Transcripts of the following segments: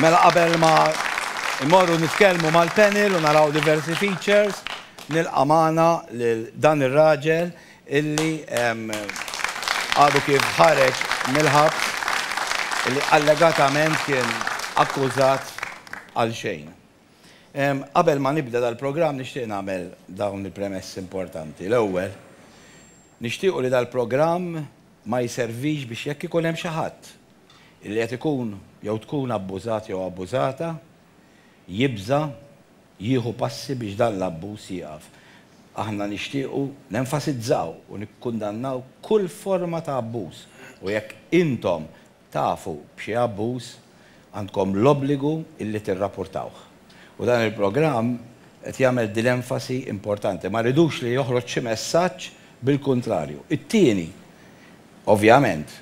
Mela qabel ma immorru nitkellmu mal-panel u naraw diversi features, nilqa' magħna lil dan ir-raġel illi għadu kif ħareġ mill-ħabs illi allegatament kien akkużat għal xejn. Qabel ma nibda dal-programm nixtieq nagħmel dawn il-premessi importanti. L-ewwel, nixtiequ li dal-programm ma jservix biex jekk ikun hemm xi ħadd li qed ikun jew tkun abbużat jew abbużata, jibża' jieħu passi biex dan l-abbuż jieqaf. Aħna nixtiequ nenfasizzaw u nikkundannaw kull forma ta' abbuż u jekk intom tafu b'xi abbuż, għandkom l-obbligu li tirrapportawh. U dan il-programm qed jagħmel din l-enfasi importanti. Ma rridux li joħroġ xi messaġġ bil-kuntrarju. It-tieni, ovvjament,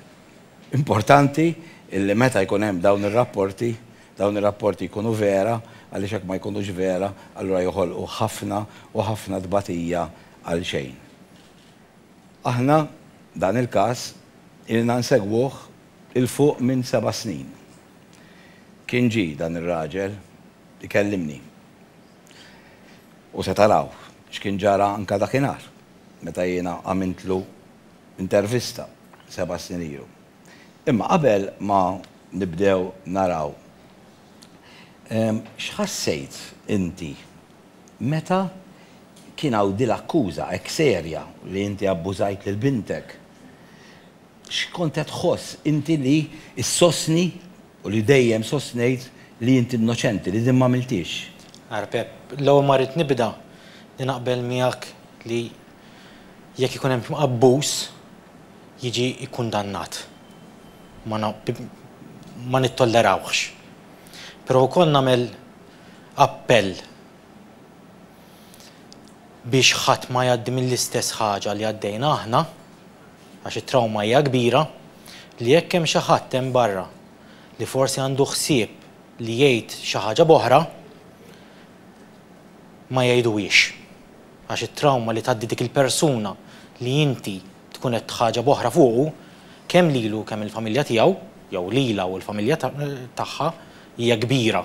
importanti li meta jkun hemm dawn ir-rapporti, dawn ir-rapporti jkunu vera għaliex jekk ma jkunux vera allura joħolqu ħafna u ħafna tbatija għal xejn. Aħna dan il-każ ilna nsegwuh 'il fuq minn seba' snin. Kien ġie dan ir-raġel ikellimni. U se taraw x'kien ġara anke dakinhar meta jiena għamiltlu intervista seba' snin ilu. Imma qabel ma nibdew naraw X'ħassejt inti meta kien hawn dil-akkuża hekk serja li inti abbużajt lil bintek? X'kont qed tħoss inti li ssostni u li dejjem sostnejt li inti innoċenti, li din m'għamilthiex? Ara Pepp, l-ewwel ma rrid nibda li naqbel miegħek li jekk ikun hemm abbuż, jiġi kkundannat. Ma ma nittollerawhx. Però wkoll nagħmel appell biex ħadd ma jgħaddi mill-istess ħaġa li għaddejna aħna, għax it-trawma hija kbira, li jekk hemm xi ħadd hemm barra li forsi għandu ħsieb li jgħid xi ħaġa b'oħra, ma jgħiduhiex. Għax it-trawma li tgħaddi dik il-persuna li inti tkun qed tħaġeb oħra fuqu, kemm lilu u kemm il-familja tiegħu, jew lilha u l-familja tagħha, hija kbira.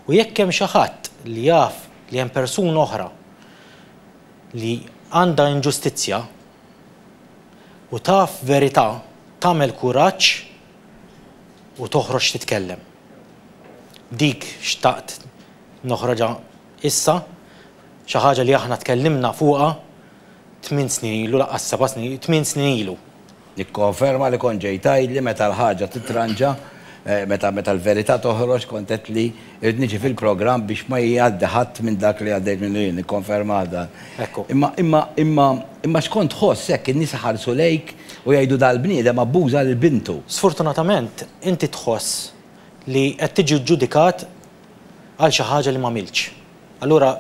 U jekk hemm xi ħadd li jaf li hemm persuna oħra li għandha inġustizzja u taf verità, tagħmel kuraġġ u toħroġ titkellem. Dik xtaqt noħroġha. Issa, xi ħaġa li aħna tkellimna fuqha tmien snin ilu, lanqas seba' snin, tmien snin ilu. Nikkonferma li kont ġejt tgħidli meta l-ħaġa titranġa, meta meta l-verità toħroġ kont għedtli irrid niġi fil-programm biex ma jgħaddi ħadd minn dak li għaddejt minnu jien, nikkonfermah dan. Hekk hu. Imma imma imma x'kont tħoss hekk in-nies iħarsu lejk u jgħidu dal-bniedem abbuża lil bintu? Sfortunatament inti tħoss li qed tiġi ġġudikat għal xi ħaġa li m'għamiltx, allura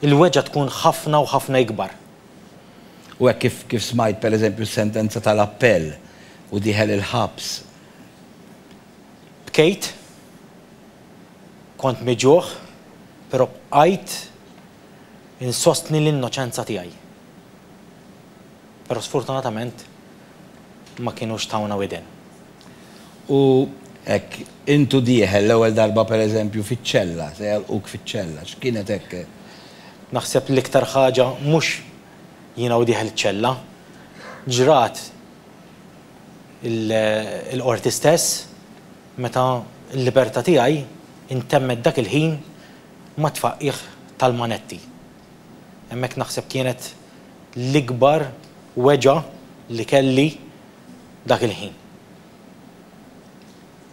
il-weġgħa tkun ħafna u ħafna ikbar. U hekk kif kif smajt pereżempju s-sentenza tal-appell u dieħel il-ħabs. Bkejt, kont miġugħ, però bqajt insostni l-innoċenza tiegħi. Però sfortunatament ma kinux tawna widen. U hekk, int u dieħel l-ewwel darba per eżempju fiċ-ċella, se jagħlquk fiċ-ċella, x'kienet hekk? Naħseb l-iktar ħaġa mhux jiena u dieħel iċ-ċella. Ġrat il-Qorti stess meta l-libertà tiegħi ntemmet dak il-ħin mat-tfaqqiegħ tal-manetti. Hemmhekk naħseb kienet l-ikbar weġgħa li kelli Dak il-ħin.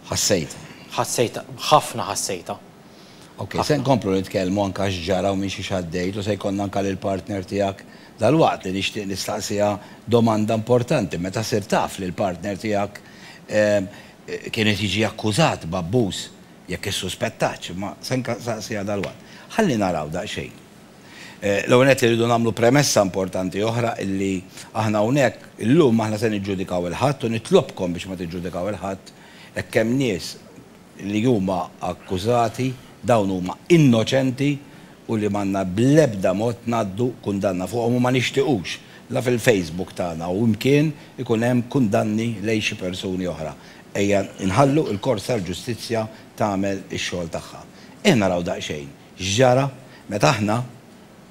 Ħassejtha. Ħassejtha, ħafna ħassejtha. Ok, se nkomplu nitkellmu anke x'ġara u minn xiex għaddejt u se jkollna anke lill-partner tiegħek dalwaqt li nixtieq nistaqsiha domanda importanti. Meta sirt taf li l-partner tiegħek kien qed jiġi akkużat b'abbuż, jekk issuspettatx, imma se nsaqsiha dalwaqt. Ħalli naraw daqsxejn. L-ewwel nett irridu nagħmlu premessa importanti oħra illi aħna hawnhekk illum aħna se niġġudikaw 'il ħadd u nitlobkom biex ma tiġġudikaw 'il ħadd hekk hemm nies li huma akkużati dawn huma innoċenti u li m'għandna bl-ebda mod ngħaddu kundanna fuqhom u ma nixtiqux la fil-Facebook tagħna u mkien ikun hemm kundanni lejn xi persuni oħra. Ejja nħallu l-kors tal-ġustizzja tagħmel ix-xogħol tagħha. Ejja naraw daqsxejn X'ġara meta aħna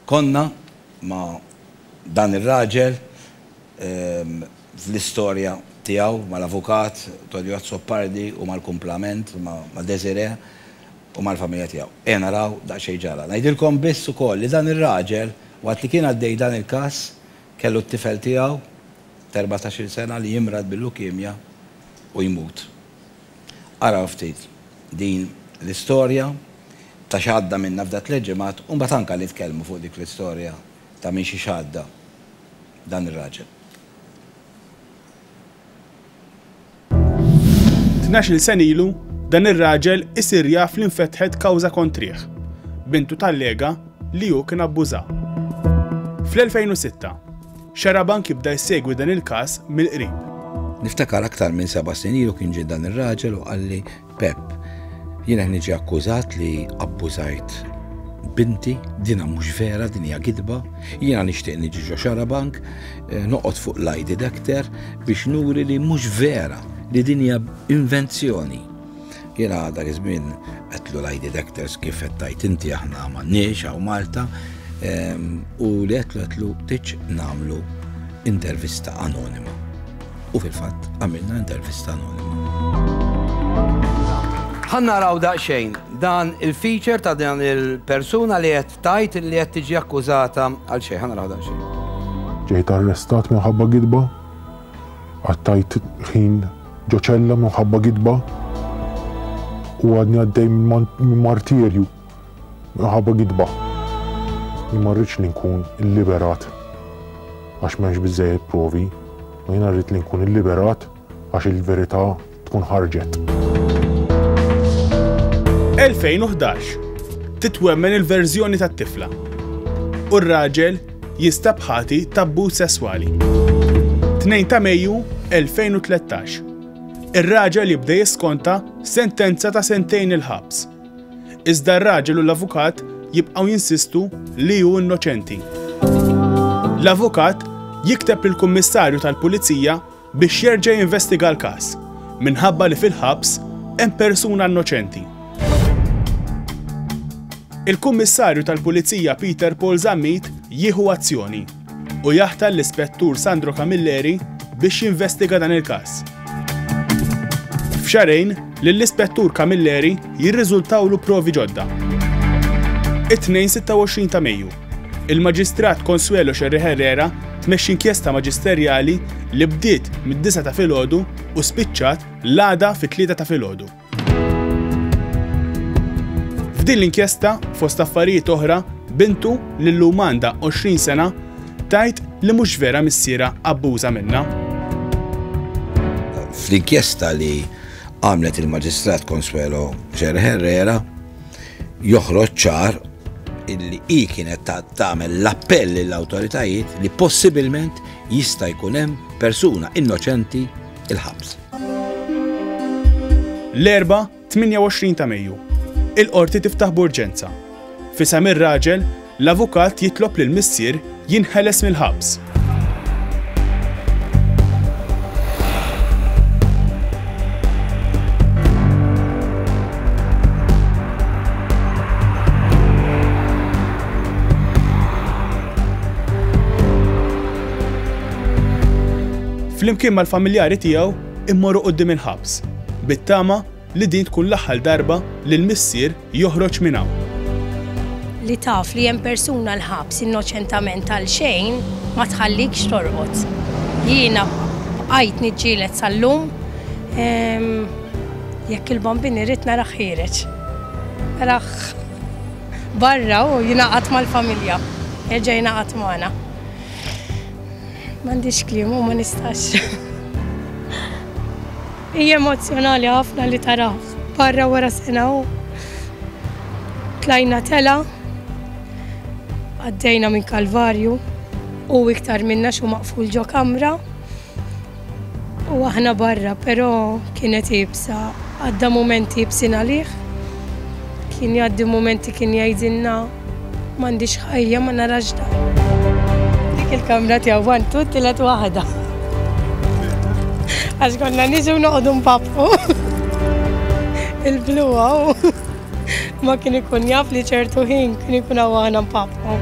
konna ma' dan ir-raġel fl-istorja tiegħu mal-avukat Tonio Azzopardi u mal-kumplament ma' Desiré u mal-familja tiegħu. Ejja naraw daqsxejn x'ġara. Ngħidilkom biss ukoll li dan ir-raġel waqt li kien għaddej dan il-każ kellu t-tifel tiegħu t'erbatax-il sena li jimrad bil-lukemja u jmut. Araw ftit din l-istorja ta' x'għadda minna f'da tliet ġimgħat u mbagħad anka nitkellmu fuq dik l-istorja ta' minn xiex għadda dan ir-raġel. Tnax-il sena ilu, dan ir-raġel isir jaf li nfetħet kawża kontrih. Bintu tallega li hu kien abbużha. Fl-2006, Xarabank jibda jsegwi dan il-każ mill-qrib. Niftakar aktar minn seba' snin ilu kien ġie dan ir-raġel u qalli, Pepp, jien qed niġi akkużat li abbużajt binti, dinha mhux vera, din hija gidba, jiena nixtieq niġi ġo xarabank, eh, noqgħod fuq l-lie detector biex nuri li mhux vera, li din hija invenzjoni. Jiena dak iż-żmien qedtlu l-eye detectors kif qed tgħid inti aħna m'għandniex hawn Malta ehm, u li qedtlu qedtlu tiġ nagħmlu intervista anonima. U fil-fatt għamilna intervista anonima. Ħanna raw daqsxejn dan il-feature ta' dan il-persuna li qed tajt li qed tiġi akkużata għal xejn, ħanna raw daqsxejn. Ġejt arrestat minħabba gidba, għattajt ħin Ġo ċella minħabba gidba u għadni għaddej minn martirju minħabba gidba. Jien ma rridx li nkun illiberat għax m'hemmx biżejjed provi, ma jiena rrid li nkun illiberat għax il-verità tkun ħarġet. 2011 Titwemmen il-verżjoni tat-tifla u r-raġel jinstab ħati ta' abbuż sesswali. 2 ta' Mejju 2013. Ir-raġel jibda jiskonta sentenza ta' sentejn il-ħabs. Iżda r-raġel u l-avukat jibqgħu jinsistu li hu innoċenti. L-avukat jikteb lill-Kummissarju tal-Pulizija biex jerġa' jinvestiga l-każ minħabba li fil-ħabs hemm persuna innoċenti. Il-Kummissarju tal-Pulizija Peter Paul Zammit jieħu azzjoni u jaħtar l-Ispettur Sandro Camilleri biex jinvestiga dan il-każ. F'xarejn, lill-Ispettur Camilleri jirriżultawlu provi ġodda. It-tnejn 26 ta' Mejju, Il-Maġistrat Consuelo Scerri Herrera tmexxi inkjesta maġisterjali li bdiet mid-disgħa ta' filgħodu u spiċċat l-għada fit-tlieta ta' filgħodu. F'din l-inkjesta, fost affarijiet oħra, bintu li llum għandha 20 sena tgħid li mhux vera missierha abbuża minnha. Fl-inkjesta li għamlet il-Maġistrat Consuelo Scerri Herrera joħroġ ċar illi hi kienet tagħmel l-appell lill-awtoritajiet li possibilment jista' jkun hemm persuna innoċenti il-ħabs. L-Erbgħa, 28 ta' Mejju, il-Qorti tiftaħ b'urġenza. F'isem ir-raġel, l-avukat jitlob lill-missier Jinħeles mill-ħabs. Flimkien mal-familjari tiegħu immorru quddiem il-ħabs bit-tama Li din tkun l-aħħal darba li l-missier joħroġ minn hawn. Li taf li hemm persuna l-ħabs innoċentament għal xejn ma tħallikx torqod. Jiena bqajt niġġieled sal-lum ehm, jekk il-bambin irrid narah ħiereġ. Narah barra u jingħaqad mal-familja. Erġa' jingħaqad magħna. M'għandix kliem u ma nistax. Hi emozzjonali ħafna li tarah barra wara sena u tlajna telgħa, għaddejna minn kalvarju, hu iktar minna x'hu maqful ġo kamra u aħna barra però kienet iebsa, għadda mumenti iebsin għalih, kien jgħaddi mumenti kien jgħidilna, M'għandix ħajja ma narax dawl. Dik il-kamra tiegħu one two tielet waħda. Għax konna niġu noqogħdu npapqu. Il-blu għaw ma kien ikun jaf li ċertu ħin kien ikun għaw aħna npapqu.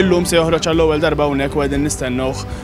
Illum se joħroġ għall-ewwel darba hawnhekk u qegħdin nistennuh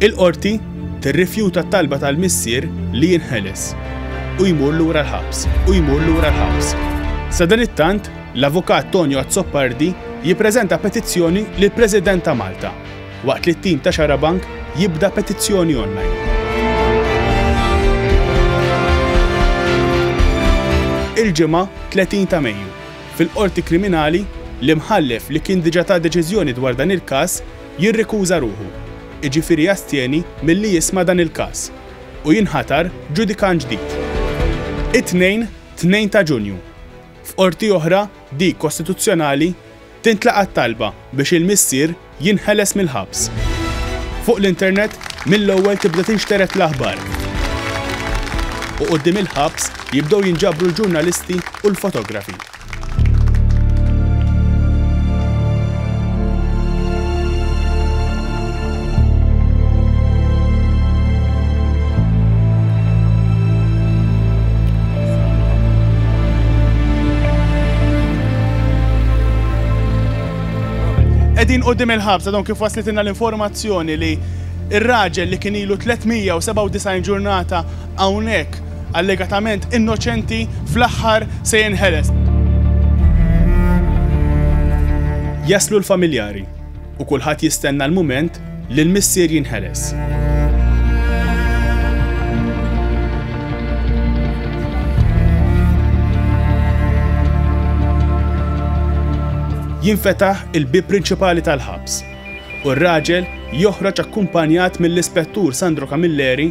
Il-qorti tirrifjuta t-talba tal-missier li jinħeles u jmur lura l-ħabs, u jmur lura l-ħabs. Sadan it-tant, L-Avukat Tonio Azzopardi jippreżenta petizzjoni lill-President ta' Malta, waqt li t-tim ta' Xarabank jibda petizzjoni online. Il-Ġimgħa, 30 ta' Mejju, fil-Qorti Kriminali, l-Imħallef li kien diġà ta deċiżjoni dwar dan il-każ jirrikuża ruħu, jiġifieri jastjeni milli jisma' dan il-każ, u jinħatar ġudikant ġdid. It-Tnejn, 2 ta' Ġunju, F'Qorti oħra, dik Kostituzzjonali, tintlaqa' t-talba biex il-missier jinħeles mill-ħabs. Fuq l-internet, mill-ewwel tibda tinxtered l-aħbar u quddiem il-ħabs jibdew jinġabru l-ġurnalisti u l-fotografi. Qegħdin quddiem il-ħabs għadhom kif waslitilna l-informazzjoni li ir-raġel li kien ilu 397 ġurnata hawnhekk allegatament innoċenti fl-aħħar se jinħeles. Jaslu l-familjari u kulħadd jistenna l-mument li l-missier jinħeles. Jinfetaħ il-bieb prinċipali tal-ħabs u r-raġel joħroġ akkumpanjat mill-Ispettur Sandro Camilleri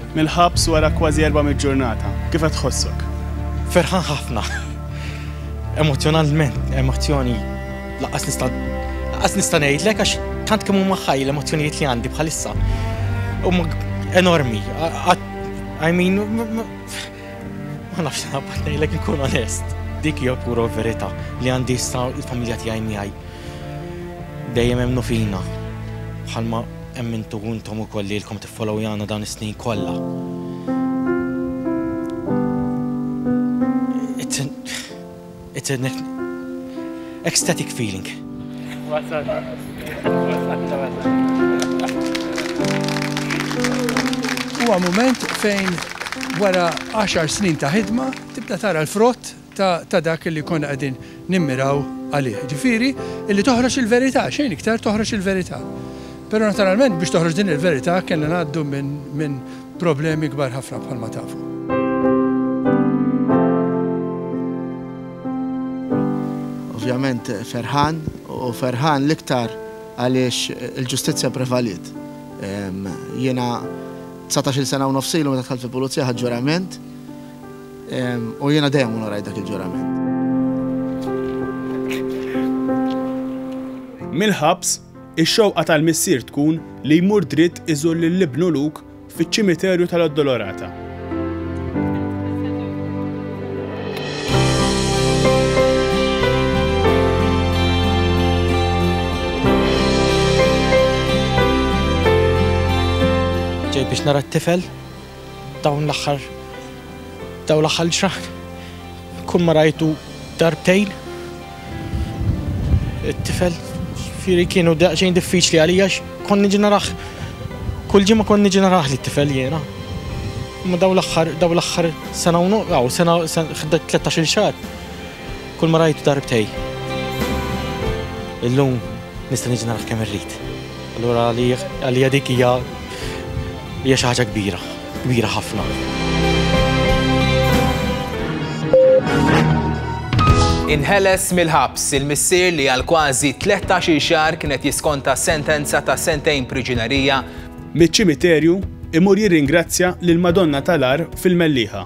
Mill-ħabs wara kważi erba' mitt ġurnata, kif qed tħossok? Ferħan ħafna. Emozzjonalment, emozzjoni lanqas nista' lanqas nista' ngħidlek għax tant kemm huma ħaj l-emozzjonijiet li għandi bħalissa. Huma enormi. I mean, ma nafx nabbat ngħidlek inkun onest. Dik hija pura verità li għandi issa l-familja tiegħi miegħi. Dejjem hemm fina bħalma hemm intu intom ukoll li lkom tifhem. Followiana dawn is-snin kollha. It's an it's an ecstatic feeling. Wasalna. Wasalna Huwa mument fejn wara 10 snin ta' ħidma tibda tara l-frott ta' dak li konna qegħdin nimmiraw għalih, jiġifieri li toħroġ il-verità, xejn iktar toħroġ il-verità. Però naturalment biex toħroġ din il-verità kellna ngħaddu minn problemi kbar ħafna bħalma tafu. Ovvjament ferħan u ferħan l-iktar għaliex il-ġustizzja prevaliet. Jiena 19 sena u nofsilu meta tħalt fil-pulizija ħaġġurament U jiena dejjem onorajt dak il-ġurament. Mill-ħabs, ix-xewqa tal-missier tkun li jmur dritt iżur lil ibnu Luke fiċ-ċimiterju tal-Addolorata. Ġej biex nara t-tifel? Dawn l-aħħar dawn l-aħħar ġranet kull ma rajtu darbtejn. It-tifel fieri kienu daqsxejn diffiċli għalija konni ġeneraħ. Kull ġimma konni ġeneraħ li t-tifel jiena. Ma daw l-axħar, daw l-axħar sena unu, għaw, sena 13 xar. Kull ma rajtu darbtej. Illum nista' niġi naraħ kemm irrid. Allura għalija dik hija hija xi ħaġa kbira, kbira ħafna. Inħeles mill-ħabs il-missier li għal kważi 13 xahar kienet jiskonta sentenza ta' sentejn priġunerija. Miċ-ċimiterju imur jirringrazzja lil Madonna tal-Ar fil-Melliħa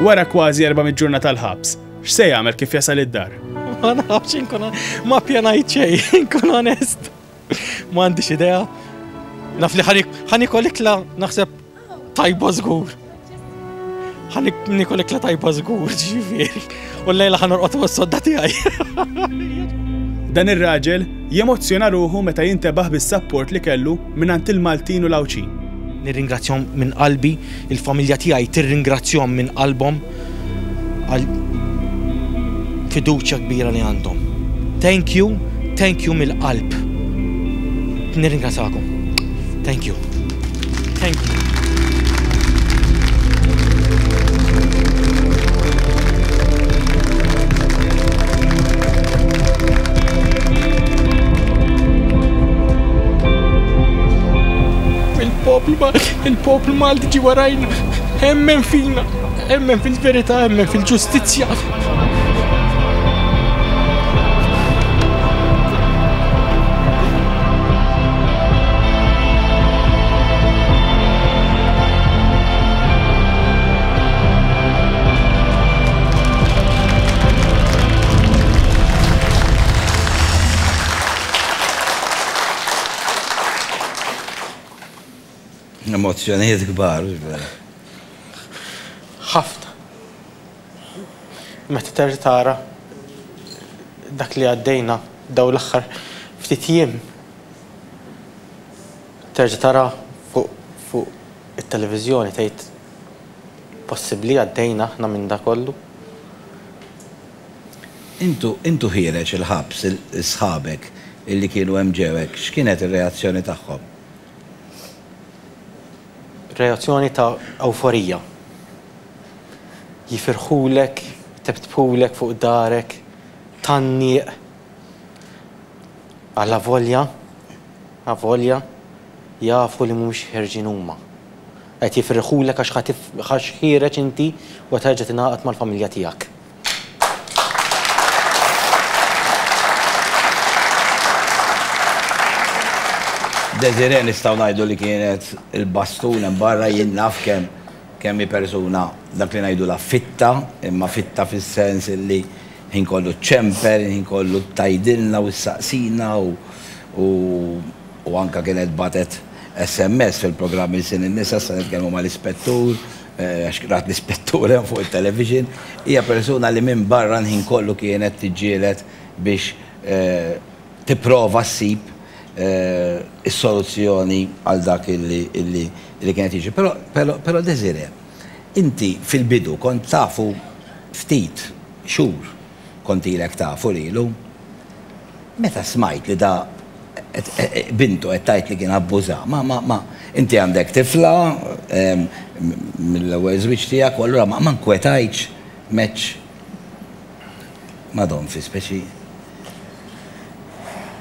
Wara kważi 400 ġurnata tal-ħabs, x'se jagħmel kif jasal id-dar? Ma nafx inkun ma pjanajt xejn, inkun onest. Ma għandix idea. Naf li ħanik ħanik ikla naħseb tajba żgur. Ħan nikol ikla tajba żgur, ġifieri. U l-lejla ħan orqod fuq sodda tiegħi. Dan ir-raġel jemozzjona ruħu meta jintebaħ bis-sapport li kellu mingħand il-Maltin u l-Għawdxin. Nirringrazzjahom minn qalbi, il-familja tiegħi tirringrazzjahom minn qalbhom. għal fiduċja kbira li għandhom. Thank you, thank you mill-qalb. Nirringrazakom. Thank you. Thank you. Il-poplu Malti ġi warajna, hemmen fina. Emmen fil-verità, emmen fil-ġustizzja. Emozzjonijiet kbar. Ħafna. Meta terġa' tara dak li għaddejna dawn l-aħħar ftit jiem. Terġa' tara fuq it-televiżjoni tgħid possibbli għaddejna aħna minn dak kollu? Intu ħiereġ il-ħabs, sħabek li kienu hemm ġewek, x'kienet ir-reazzjoni tagħhom? Reazzjoni ta' ewforija. Jifirħulek, jtebtbhulek fuq darek, tgħanniq. Għal avolja, avolja, jafu li mhumiex ħierġin huma. Qed jifirħulek għax ħa ħa x'ħiereġ inti u qed terġa' tingħaqad mal-familja tiegħek. Desiree nistgħu ngħidu li kienet il-bastun hemm barra jien naf kemm kemm hi persuna dak li ngħidulha fitta, imma fitta fis-sens illi ħin kollu ċċemper, ħin kollu tgħidilna u ssaqsina u u u anke kienet bagħtet SMS fil-programm Ilsien in-Nisa, issa nitkellmu mal-Ispettur, għax rat l-Ispettur hemm fuq it-television, hija persuna li minn barra l-ħin kollu kienet tiġġieled biex tipprova ssib is-soluzzjoni għal dak li kien qed jiġri. Però, però Desirée, inti fil-bidu kont tafu ftit xhur. Kontilek tafu lilu. Meta smajt li da bintu qed tgħid li kien abbuża, ma, ma, ma, inti għandek tifla mill-ewwel żwieġ tiegħek u allura ma, ma nkwetajtx match ma' Don fi speċi.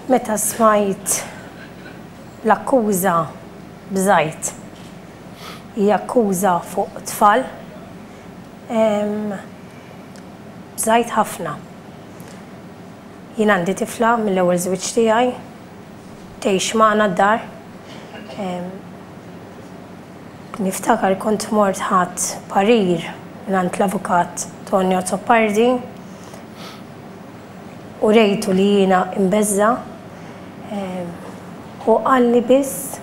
Meta smajt l-akkuża bżajt. Hija akkuża fuq tfal. Ehm. Bżajt ħafna. Jien għandi tifla mill-ewwel żwieġ tiegħi, tgħix magħna d-dar. Ehm. Niftakar kont mort ħadt parir mingħand l-Avukat Tony Azzopardi u rejtu li jiena imbeżża'. Ehm. Hu qalli biss.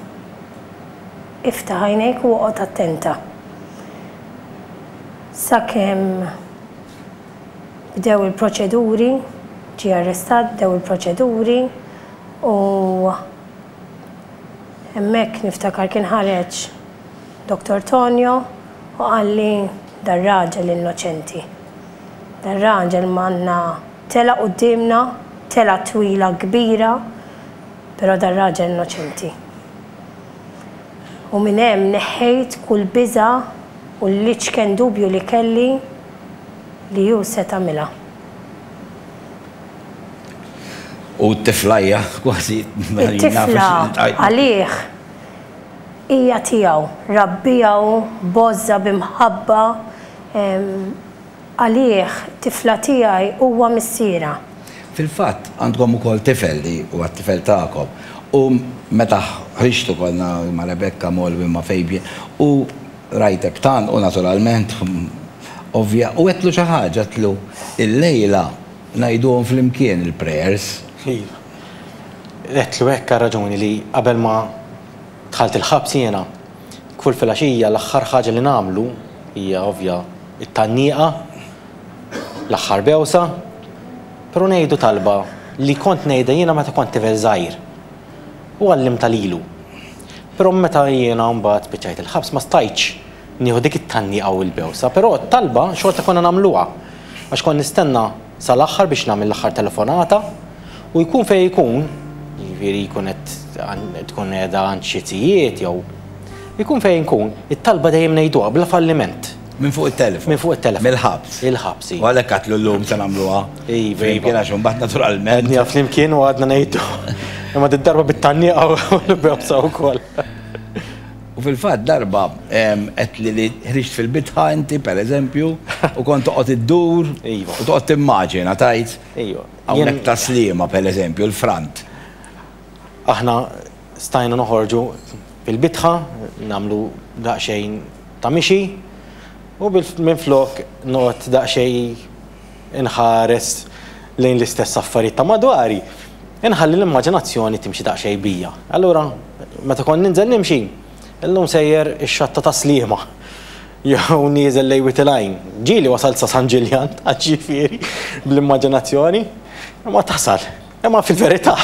Iftaħ għajnejk u oqgħod attenta. Sakemm bdew il-proċeduri, ġie arrestat, bdew il-proċeduri u hemmhekk niftakar kien ħareġ Dottor Tonio u qalli dar-raġel innoċenti. Dar-raġel manna telgħa quddiemna, telgħa twila kbira, però dar-raġel innoċenti. u minn hemm neħħejt kull biża' u l-iċken dubju li kelli li hu se tagħmilha. U t-tifla hija kważi mela jien naf li xi tgħid. It-tifla għalih hija tiegħu, rabbiha hu b'għożża, b'imħabba. Għalih, tifla tiegħi huwa missierha. Fil-fatt, għandkom ukoll tifel li huwa t-tifel tagħkom. U meta ħriġtu konna ma' Rebekka, Molly, ma' Fabian, u rajtek tgħannqu naturalment, ovvja, u għedtlu xi ħaġa, għedtlu, Illejla ngħiduhom flimkien il-prayers. Iva. Għedtlu hekk għar-raġuni li qabel ma dħalt il-ħabs jiena. Kull filgħaxija l-aħħar ħaġa li nagħmlu hija ovvja t-tgħanniqa, l-aħħar bewsa, però ngħidu talba li kont ngħidha jiena meta kont tifel żgħir u għallimtha lilu. Però meta jiena mbagħad spiċċajt il-ħabs ma stajtx nieħu dik it-tgħanniqa u l-bewsa, però t-talba xorta konna nagħmluha għax kont nistenna sal-aħħar biex nagħmel l-aħħar telefonata u jkun fejn ikun, jiġifieri jkun qed tkun qiegħda għand xi tijiet jew ikun fejn inkun, it-talba dejjem ngħiduha bla falliment. Minn fuq it-telefon. Minn fuq it-telefon. Mill-ħabs. Il-ħabs, iva. U għalhekk għedtlu llum se nagħmluha. Iva. Flimkien għax imbagħad naturalment. Għedniha flimkien u għadna ngħiduha. Imma did-darba bit-tgħanniqa u l-bewsa wkoll. U fil-fatt darba għedtli li ħriġt fil-bitħa inti, per eżempju, u kont toqgħod iddur u toqgħod timmaġina tajt hawnhekk ta' Sliema, per eżempju, l-frant. Aħna stajna noħorġu mill-bitħa, nagħmlu daqsxejn ta' mixi u minflok noqgħod daqsxejn, inħares lejn l-istess affarijiet ta' madwari, inħalli l-immaġinazzjoni timxi daqsxejn bija. Allura, meta kont ninżel nimxi, illum sejjer ix-xatta ta' Sliema, jew nieżel lejn Wied il-Għajn, ġieli wasalt sa San Ġiljan, għax jiġifieri, bl-immaġinazzjoni, imma tasal. Imma fil-verità,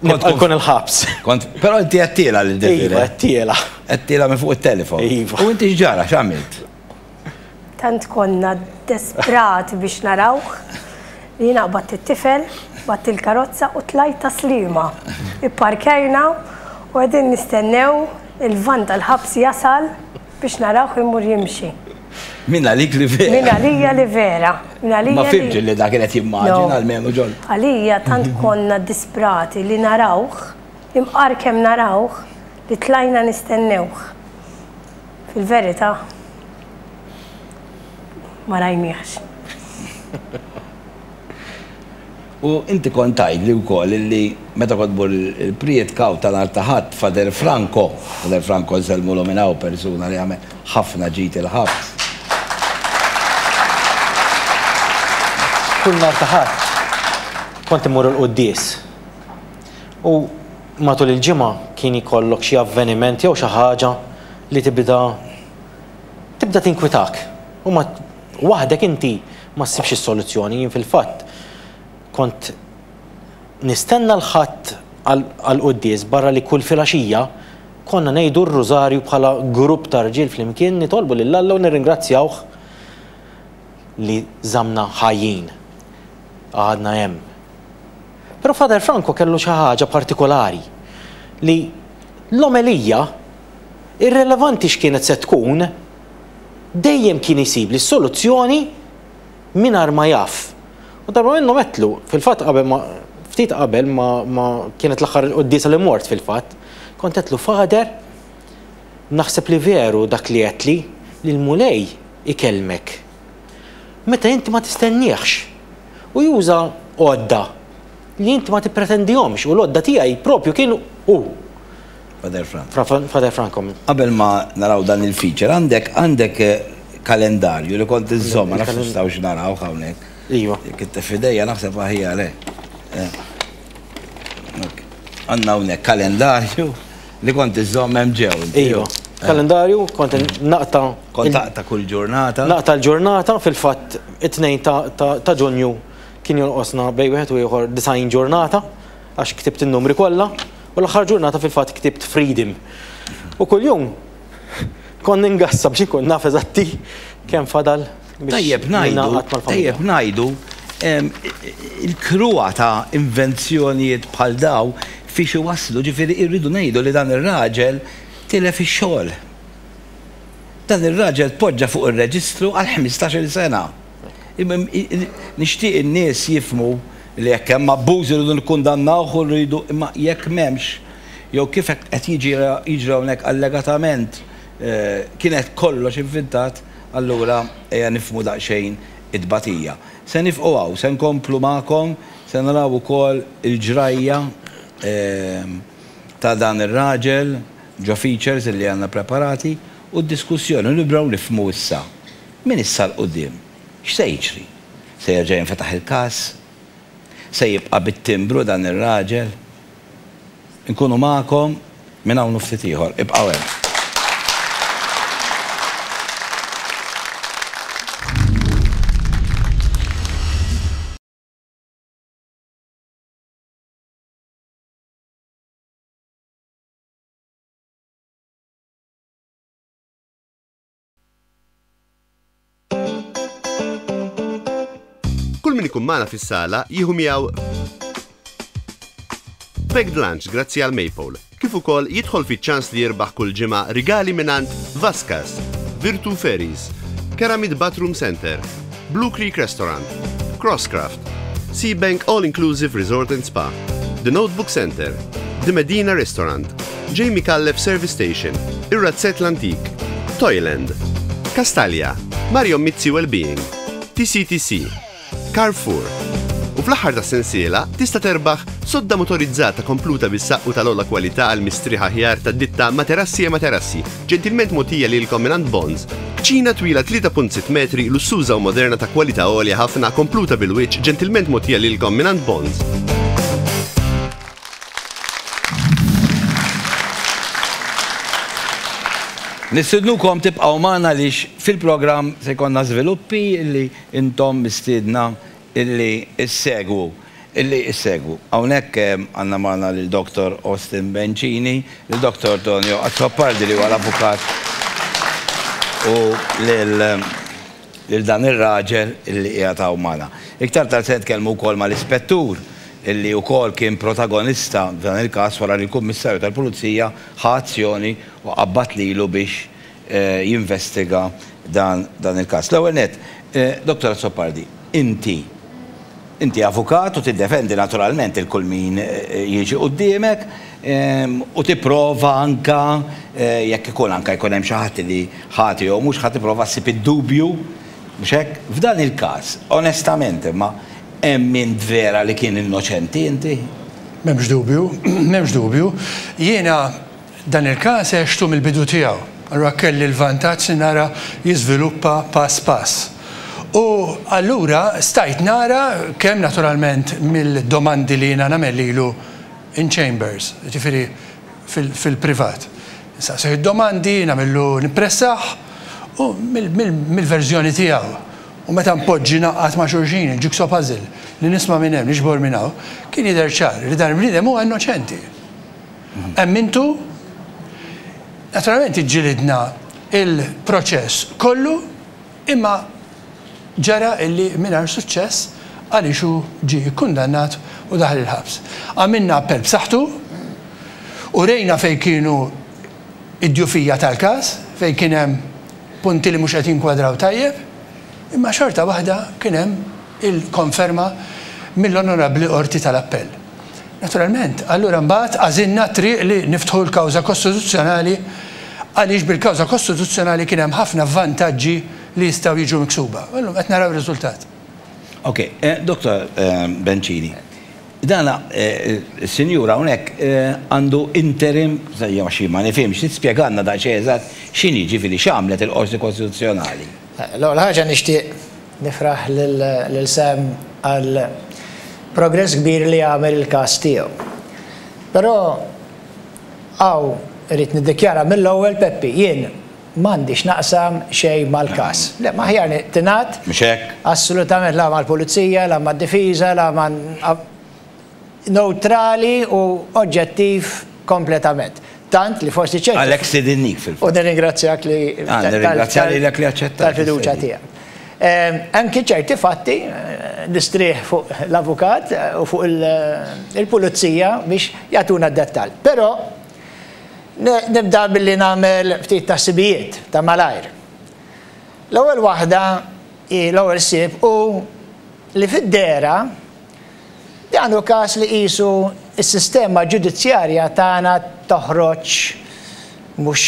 nibqa' nkun il-ħabs. Kont, però inti għedtielha lil Desiree? Iva, għedtielha. Għedtielha minn fuq it-telefon? Iva. U inti x'ġara, x'għamilt? Tant konna desperati biex narawh li jiena qbadt it-tifel, qbadt il-karozza u tlajt ta' Sliema. Ipparkajna u qegħdin nistennew il-vann tal-ħabs jasal biex narawh imur jimxi. Minn għalik li vera. Minn għalija li vera. Minn għalija li. Ma fhimtx illi dak kien qed jimmaġina almenu John. Għalija tant konna disprati li narawh, imqar kemm narawh, li tlajna nistennewh. Fil-verità, ma rajniehx. U inti kont tgħidli wkoll li meta kont tmur il-prietka u ta' nhar ta' Ħadd Father Franco, Father Franco nsellmulu minn hawn persuna li għamel ħafna ġid il-ħabs. Kull nhar ta' Ħadd kont immur il-quddies u. Matul il-ġimgħa kien jkollok xi avveniment jew xi ħaġa li tibda tibda tinkwitak u ma waħdek inti ma ssibx is-soluzzjoni. Jien fil-fatt kont nistenna l-Ħadd għall-quddies barra li kull filgħaxija konna ngħidu r-rużarju bħala grupp ta' rġiel flimkien nitolbu lil Alla u nirringrazzjawh li żammna ħajjin għadna hemm. Però Father Franco kellu xi ħaġa partikolari, li l-omelija, irrelevanti x'kienet se tkun, dejjem kien jsibli s-soluzzjoni mingħajr ma jaf. U darba minnhom għedtlu, fil-fatt qabel ma, ftit qabel ma, ma, kienet l-aħħar quddiesa li mort fil-fatt, kont għedtlu, Father, naħseb li veru dak li għedtli, li l-Mulej ikellmek. meta inti ma tistenniehx u juża għodda li inti ma tippretendihomx u l-għodda tiegħi propju kien hu. Father Franco. Father Franco. Qabel ma naraw dan il-feature għandek għandek eh, kalendarju li kont iżżomm ma nafx nistgħux naraw hawnhekk. Iva. Kitte fidejja naħseb aħjar eh. eh. Għandna hawnhekk kalendarju Li kont iżżomm hemm ġew. Iva. Kalendarju kont naqta. Kont taqta' kull ġurnata. Naqta' l-ġurnata fil-fatt it-tnejn ta' Ġunju kien jonqosna bejn wieħed u ieħor 90 ġurnata għax ktibt in-numri kollha u l-aħħar ġurnata fil-fatt ktibt freedom. U kuljum kont ningassa biex inkun naf eżatti kemm fadal. Tajjeb ngħidu, tajjeb ngħidu, il-kruha ta' invenzjonijiet bħal dawn fiex iwasslu, ġifieri irridu ngħidu li dan ir-raġel tilef ix-xogħol. Dan ir-raġel tpoġġa fuq ir-reġistru għal ħmistax-il sena. Nixtieq in-nies jifhmu li jekk hemm abbuż irridu nikkundannawh u rridu, imma jekk m'hemmx, jew kif qed jiġi jiġri hawnhekk allegatament, Kienet kollox ivvintat, allura ejja nifhmu daqsxejn it-tbatija. Se nifqu hawn, se nkomplu magħkom, se naraw ukoll il-ġrajja ta' dan ir-raġel ġo features li għandna preparati u d-diskussjoni u nibdew nifhmu issa, minn issa 'l quddiem, x'se jiġri. Se jerġa' jinfetaħ il-każ? Se jibqa' bit-timbru dan ir-raġel? nkunu magħkom minn hawn u ftit ieħor. Ibqgħu hemm. Kull min ikun magħna fis-sala jieħu miegħu packed lunch grazzi għal Maypole, kif ukoll jidħol fiċ-ċans li jirbaħ kull ġimgħa rigali mingħand Vaskas, Virtu Ferries, Keramid Bathroom Center, Blue Creek Restaurant, Crosscraft, Sea Bank All Inclusive Resort and Spa, The Notebook Center, The Medina Restaurant, Jamie Kallef Service Station, Ir-Razzett l-Antik, Toyland, Kastalja, Mario Mizzi Wellbeing, TCTC, Carrefour. U fl-aħħar ta' sensiela tista' terbaħ sodda motorizzata kompluta bis-saqqu tal-ola kwalità għal mistrieħ aħjar tad-ditta Materassi e Materassi Ġentilment mogħtija lilkom mingħand Bonds, kċina twila 3.6 metri, lussuża u moderna ta' kwalità għolja ħafna, kompluta bil-wiċċ, ġentilment mogħtija lilkom mingħand Bonds. Nistidnukom tibqgħu magħna għaliex fil-programm se jkollna żviluppi li intom mistiedna illi issegwu, illi issegwu. Hawnhekk għandna magħna lil Dottor Austin Bencini, lil Dottor Tonio Azzopardi li huwa l-avukat u lil lil dan ir-raġel illi qiegħed hawn magħna. Iktar tard se nitkellmu wkoll mal-Ispettur illi wkoll kien protagonista f'dan il-każ wara li l-Kummissarju tal-Pulizija ħa azzjoni u qabbad lilu biex jinvestiga dan il-każ. L-ewwel nett, Dottor Azzopardi, inti inti avukat u tiddefendi naturalment lil kull min jiġi quddiemek u tipprova anke jekk ikun anke jkun hemm xi ħadd li ħati jew mhux ħati tipprova ssib id-dubju, mhux hekk? F'dan il-każ, onestament imma, hemm min vera li kien innoċenti inti? M'hemmx dubju, m'hemmx dubju. Jiena Dan il-każ għextu mill-bidu tiegħu, allura kelli l-vantaġġ li nara jiżviluppa pass pass. U allura stajt nara kemm naturalment mill-domandi li jiena nagħmel lilu in chambers, jiġifieri fil-privat. Insaqsih id-domandi, nagħmillu nippressah u mill-verżjoni tiegħu u meta npoġġi ngħaqqad ma' xulxin il-jigsaw puzzle li nisma' minn hemm, niġbor minn hawn, kien jidher ċar li dan il-bniedem huwa innoċenti. Hemm intu? Naturalment iġġilidna l-proċess kollu imma ġara illi mingħajr suċċess għaliex hu ġie kkundannat u daħal il-ħabs. Għamilna appell b'saħħtu, urejna fejn kienu d-djufija tal-każ, fejn kien hemm punti li mhux qed jinkwadraw tajjeb, imma xorta waħda kien hemm il-konferma mill-Onorabbli Qorti tal-Appell. Naturalment, allura mbagħad għażilna t-triq li niftħu l-kawża kostituzzjonali għaliex bil-kawża kostituzzjonali kien hemm ħafna vantaġġi li jistgħu jiġu miksuba. U llum qed naraw ir-riżultat. Ok, Dottor Bencini, dan is-sinjur hawnhekk għandu interim, jew xi ma nifhimx, trid tispjegalna daqsxejn eżatt x'inhi, jiġifieri x'għamlet il-Qorti Kostituzzjonali? L-ewwel ħaġa nixtieq Nifraħ lil Sam għall-progress kbir li għamel il-każ tiegħu. Però hawn irrid niddikjara mill-ewwel, Peppi, jien m'għandix naqsam xejn mal-każ. Le, ma aħjar tingħad? Mhux hekk? Assolutament la mal-Pulizija, la mad-Difiża, la ma. newtrali u oġġettiv kompletament. Tant li forsi ċerti. Għalhekk stidinnik fil-fatt. U nirringrazzjak li. Ah, nirringrazzja lilek li aċċettajt. Tal-fiduċja tiegħek. Hemm kien ċerti fatti, nistrieħ fuq l-avukat u fuq il-pulizija biex jagħtuna d-dettall. Però nibda billi nagħmel ftit taħsibijiet ta' malajr. L-ewwel waħda hi l-ewwel ħsieb hu li fid-dehra Dan hu każ li qisu s-sistema ġudizzjarja tagħna toħroġ mhux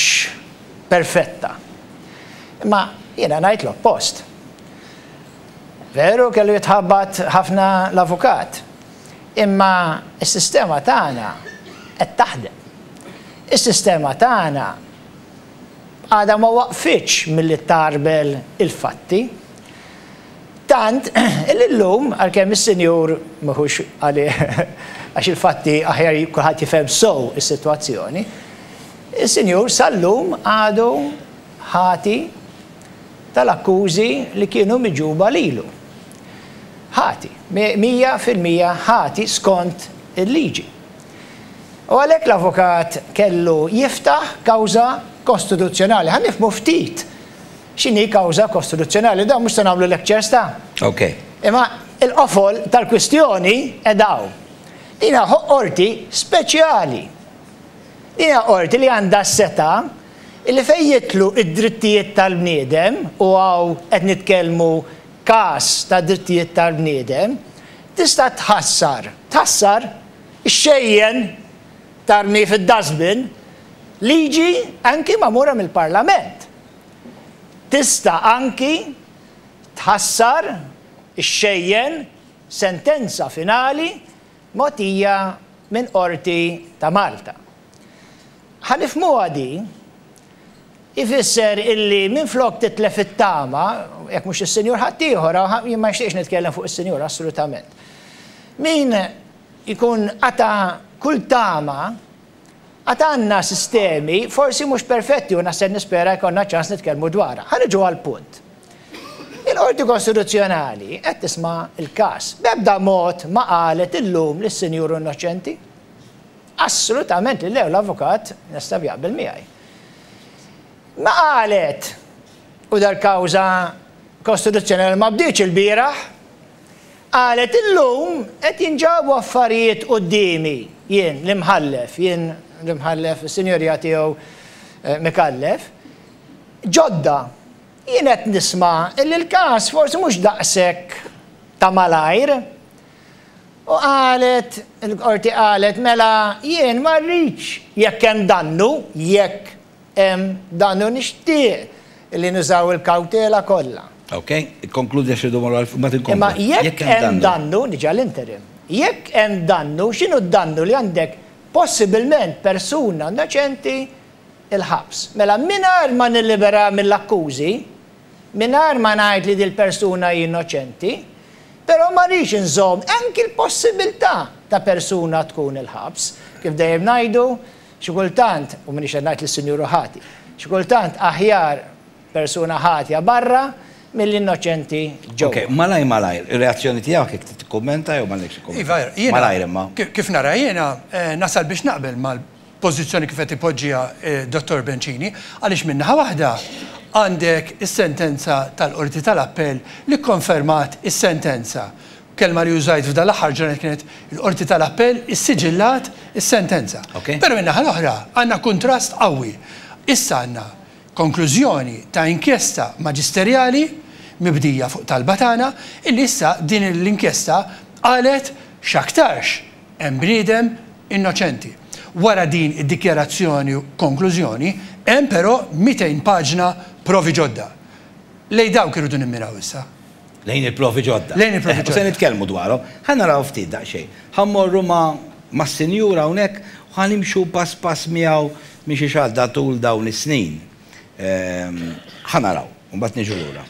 perfetta. Imma jiena ngħid l-oppost. Veru kellu jitħabbat ħafna l-avukat, imma s-sistema tagħna qed taħdem. Is-sistema tagħna għadha ma waqfitx milli tgħarbel il-fatti. Tant li llum, għalkemm is-Sinjur m'iħux għalih għax il-fatti aħjar kulħadd jifhem sew is-sitwazzjoni, is-Sinjur sal-lum għadu ħati tal-akkużi li kienu miġgħuba lilu. Ħati, mija fil-mija ħati skont il-liġi. U għalhekk l-avukat kellu jiftaħ kawża kostituzzjonali. Ħa nifhmu ftit X'inhi kawża kostituzzjonali? Dan mhux se nagħmlu lectures ta'. Okay. Imma il-qofol tal-kwistjoni qiegħda hawn. Din hija qorti speċjali. Din hija qorti li għandha s-setgħa li fejn jitlu d-drittijiet tal-bniedem u hawn qed nitkellmu każ ta' drittijiet tal-bniedem, tista' tħassar, tħassar, ixxejjen, tarmi fid-dustbin, liġi anki magħmura mill-Parlament. tista' anki tħassar, ixxejjen, sentenza finali mogħtija minn Qorti ta' Malta. Ħa nifhmuha din, ifisser illi minflok titlef it-tama, jekk mhux is-Sinjur ħaddieħor, jien ma nixtieqx nitkellem fuq is-Sinjur assolutament. Min ikun qata' kull tama Għad għandna sistemi, forsi mhux perfetti u naħseb nispera jkollna ċans nitkellmu dwarha. Ħa niġu għall-punt. Il-Qorti Kostituzzjonali qed tisma' l-każ. B'ebda mod ma qalet illum li s-sinjur hu innoċenti. Assolutament li le u l-avukat Nestav jaqbel miegħi. Ma qalet u dal-kawża Kostituzzjonali ma bdietx ilbieraħ. Qalet, Illum qed jinġabu affarijiet quddiemi, jien, l-Imħallef, jien, l-Imħallef, is-Sinjorija tiegħu Micallef, ġodda. Jien qed nisma' li l-każ forsi mhux daqshekk ta' malajr. U qalet, il-Qorti qalet, mela jien ma rridx, jekk hemm dannu, jekk Dan hu nixtieq li nużaw il-kawtela kollha. Ok, ikkonkludi għax irridu mmorru għall-vot. Mbagħad inkomplu. Imma jekk hemm dannu, niġi għall-interim, jekk hemm dannu, x'inhu d-dannu li għandek possibilment persuna innoċenti l-ħabs? Mela mingħajr ma nilliberaha mill-akkużi, mingħajr ma ngħid li dil-persuna hi innoċenti, però ma rridx inżomm anki l-possibilità ta' persuna tkun il-ħabs. Kif dejjem ngħidu, Xi kultant, u m'iniex qed ngħid lis-Sinjur hu ħati, xi kultant aħjar persuna ħatja barra milli innoċenti ġewwa. Ok, malajr malajr, ir-reazzjoni tiegħek jekk trid tikkummenta jew m'għandekx xi kumment. Iva, jiena. Malajr imma. Kif nara jiena, nasal biex naqbel mal-pożizzjoni kif qed ipoġġiha d-Dottor Bencini, għaliex minn naħa waħda għandek is-sentenza tal-Qorti tal-Appell li kkonfermat is-sentenza Kelma li użajt f'dan l-aħħar ġurnal kienet il-Qorti tal-Appell issiġillat is-sentenza. Però min-naħa l-oħra għandna kuntrast qawwi. Issa għandna konklużjoni ta' inkjesta maġisterjali mibdija fuq talba tagħna illi issa din l-inkjesta qalet x'aktarx hemm bniedem innoċenti. Wara din id-dikjarazzjoni u konklużjoni hemm però 200 paġna provi ġodda. Lejn dawk irridu nimmiraw issa. Lejn il-provi ġodda. Lejn il-provi ġodda. U se nitkellmu dwarhom. Ħa naraw ftit daqsxejn. Ħa mmorru ma' mas-Sinjur hawnhekk u ħa nimxu pass pass miegħu minn xi xahda tul dawn is-snin. Ħa naraw, u mbagħad niġu lura.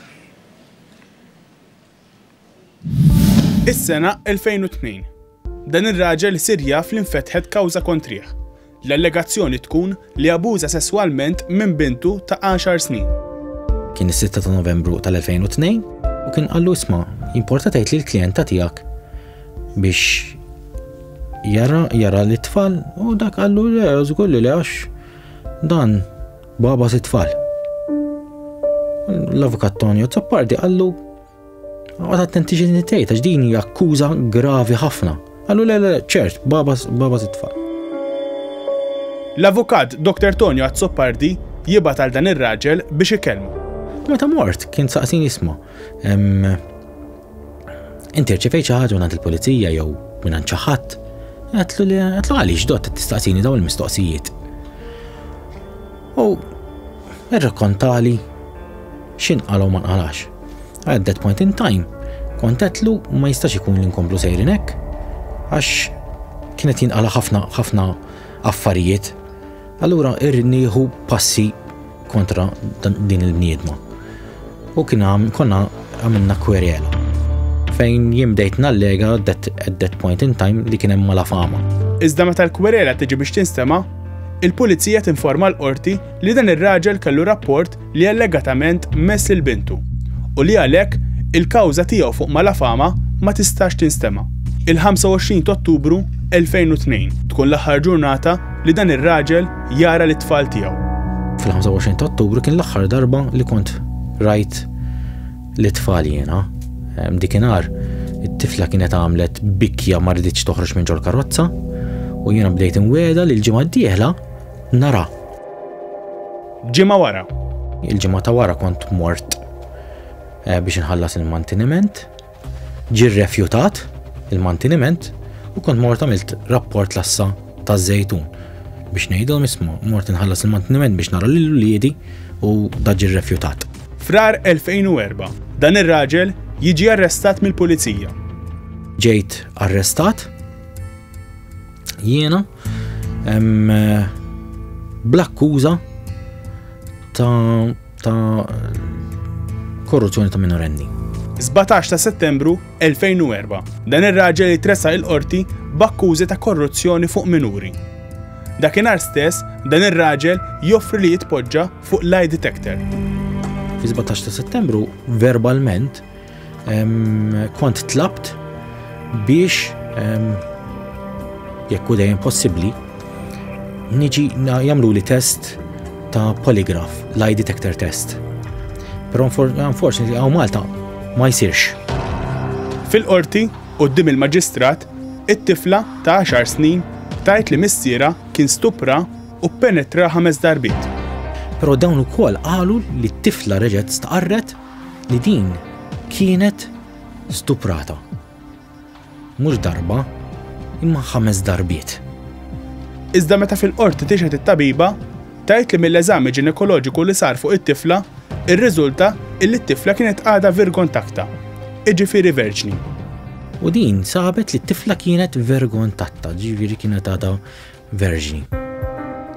Is-sena 2002. Dan ir-raġel sir jaf li nfetħet kawża kontrih. L-allegazzjoni tkun li abuża sesswalment minn bintu ta' għaxar snin. Kien is-sitta ta' Novembru tal-2002 u kien qallu isma' jimporta tgħid li l-klijenta tiegħek biex jara jara li tfal u dak qallu le żgur li għax dan baba si tfal. L-avukat Tonio Zappardi qallu Għad attenti ġin tgħid għax din hija akkuża gravi ħafna. Għallu le le ċert, baba baba titfa'. L-avukat Dr. Tonio Azzopardi jibgħat għal dan ir-raġel biex ikellmu. Meta mort kien saqsin jisma. Inti rċifej xi ħaġa minn il-pulizija jew minn xi ħadd. Għatlu li għatlu għaliex dot tistaqsini daw il-mistoqsijiet. U irrakontali X'in qala u ma nqalax. At that point in time kont għedtlu ma jistax ikun li nkomplu sejrin hekk għax kienet jinqala ħafna ħafna affarijiet. Allura irrid nieħu passi kontra din il-bniedma. U kien konna għamilna kwerjela fejn jimdejt nallega at that point in time li kien hemm mala fama. Iżda meta l-kwerela tiġi biex tinstema, il-pulizija tinforma l-qorti li dan ir-raġel kellu rapport li allegatament mess lil bintu u li għalhekk il-kawża tiegħu fuq Malafama ma tistax tinstema'. Il-25 t'Ottubru 2002 tkun l-aħħar ġurnata li dan ir-raġel jara lit-tfal tiegħu. Fil-25 t'Ottubru kien l-aħħar darba li kont rajt lit-tfal jiena. Dikinhar it-tifla kienet għamlet bikja ma rridx toħroġ minn ġol-karozza u jiena bdejt inweda li l-ġimgħa d-dieħla nara. Ġimgħa wara. Il-ġimgħa ta' wara kont mort eh, biex inħallas il-mantiniment. Ġi rrefjutat il-mantiniment u kont mort għamilt rapport lassa ta' zejtun biex ngħidu mismu mort inħallas il-mantiniment biex nara lil uliedi u daġi rrefjutat. Frar 2004, dan ir-raġel jiġi arrestat mill-pulizija. Ġejt arrestat jiena Bl-akkuża ta' korruzzjoni ta' minorenni. 17 ta' settembru 2004, dan ir-raġel jitressa il-qorti b'akkużi ta' korruzzjoni fuq minuri. Dakinhar stess, dan ir-raġel joffri li jitpoġġa fuq lie detector. Fi 17 ta' settembru, verbalment, Kont tlabt biex jekk u dejjem possibbli niġi jagħmlu li test ta' poligraf, lie detector test. Però unfortunately għaw Malta ma jsirx. Fil-qorti, qoddim il-maġistrat, it-tifla ta' 10 snin tajt li missiera kien stupra u penetra ħames darbit. Però dawn ukoll qalu li t-tifla reġgħet staqarret li din kienet stuprata. Mhux darba, imma ħames darbiet. Iżda meta fil-qorti tixħet it-tabiba, tajt li mill-eżami ġinekoloġiku li sar fuq it-tifla, irriżulta illi t-tifla kienet għada virgon takta, iġifiri verġni. U din sabet li t-tifla kienet virgon tatta, ġifiri kienet għada Verġni.